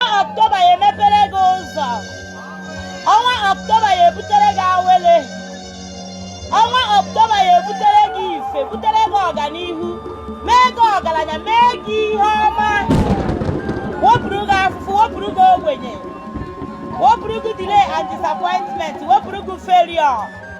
Ọktoba ya emepere gị ụzọ ọnwa Ọktoba ya ebutere gị awele ọnwa Ọktoba ya ebutere gị ife butere gị ọganihu mee gị ọgaranya mee gị ihe ọma wepụrụ gị afụfụ wepụrụ gị ogbenye wepụrụ gị delay and disappointment wepụrụ gị failure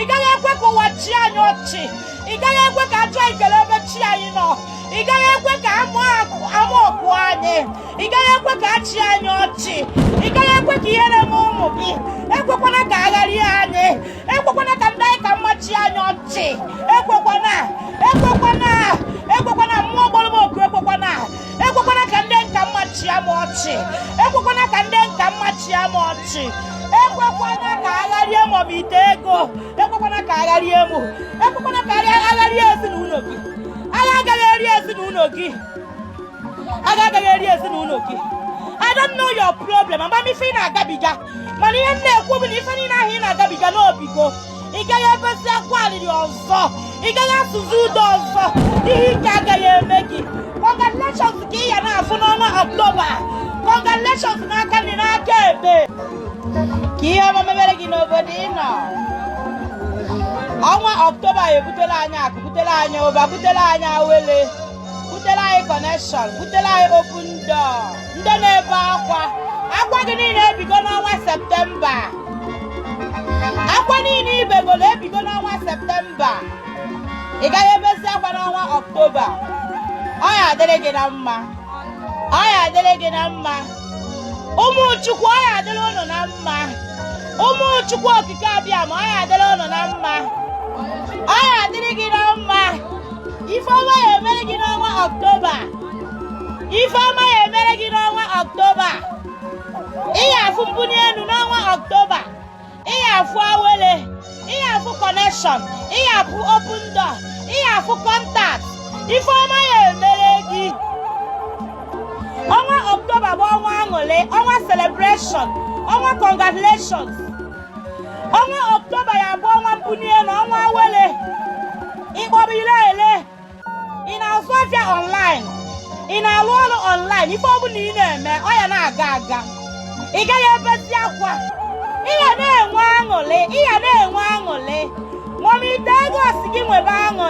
ị gaghị ekwe ka ụwa chịa anyị ọchị ị gaghị ekwe ka ajụ anyị kelee ebe chi anyị nọ ị gaghị ekwe ka ama ọkụ anyị ị gaghị ekwe ka a chịa anyị ọchị ị gaghị ekwe ka ihere mee ụmụ gị ekwekwana ka agha rie anyị ekwekwana ka ndị anyị ka mma chịa anyị ọchị ekwekwana ekwekwana ekwekwana mmụọ kpọrọ m oku ekwekwana ekwekwana ka ndị m ka mma chịa m ọchị ekwekwana ka ndị m ka mma chịa m ọchị ekwekwana ka agha rie m ọ m ite ego ekwekwana ka agha rie m ekwekwana ka agha rie ezinụlọ gị agha agaghị eri ezinụlọ gị agha agaghị eri ezinụlọ gị I don't know your problem ama m ife ị na-agabiga mana ihe m na-ekwu bụ na ife niile ahụ ị na-agabiga na o bigo ị gaghị ebezi akwa alịrị ọzọ ị gaghị asụzi ude ọzọ ihe ike agaghị eme gị congratulations ka ị ya na-afụ n'ọnwa ọktoba congratulations n'aka nri n'aka ekpe ka ihe ọma mebere gị n'obodo ị nọ ọnwa ọktoba ya ebutere anyị akụ butere anyị ụba butere anyị awele butere anyị kọnekshọn butere anyị open door ndị na-ebe akwa akwa gị niile ebigo n'ọnwa septemba akwa niile i begoro ebigo n'ọnwa septemba ị gaghị ebezi akwa n'ọnwa ọktoba ọ ya adịrị gị na mma ọ ya adịrị gị na mma ụmụ chukwu ọ ya adịrị ụnụ na mma ụmụ chukwu okike abịama ọ ya adịrị ụnụ na mma ọ ya adịrị gị na mma ife ọma ya emere gị n'ọnwa ọktoba ife ọma ya emere gị n'ọnwa ọktoba ị ya afụ mbuni enu n'ọnwa ọktoba ị ya afụ awele ị ya afụ kọnekshọn ị ya afụ open door ị ya afụ kọntakt ife ọma ya emere gị ọnwa ọktoba bụ ọnwa aṅụlị ọnwa selebreshọn ọnwa congratulations ọnwa ọktoba ya abụ ọnwa mbuni enu ọnwa awele ị kpọba i lee ị na-azụ afịa online ị na-alụ ọrụ online ife ọ bụla ị na-eme ọ ya na-aga aga ị gaghị ebezi akwa ị ya na-enwe aṅụrị ị ya na-enwe aṅụrị nwa m ite ego sị gị nwebe aṅụrị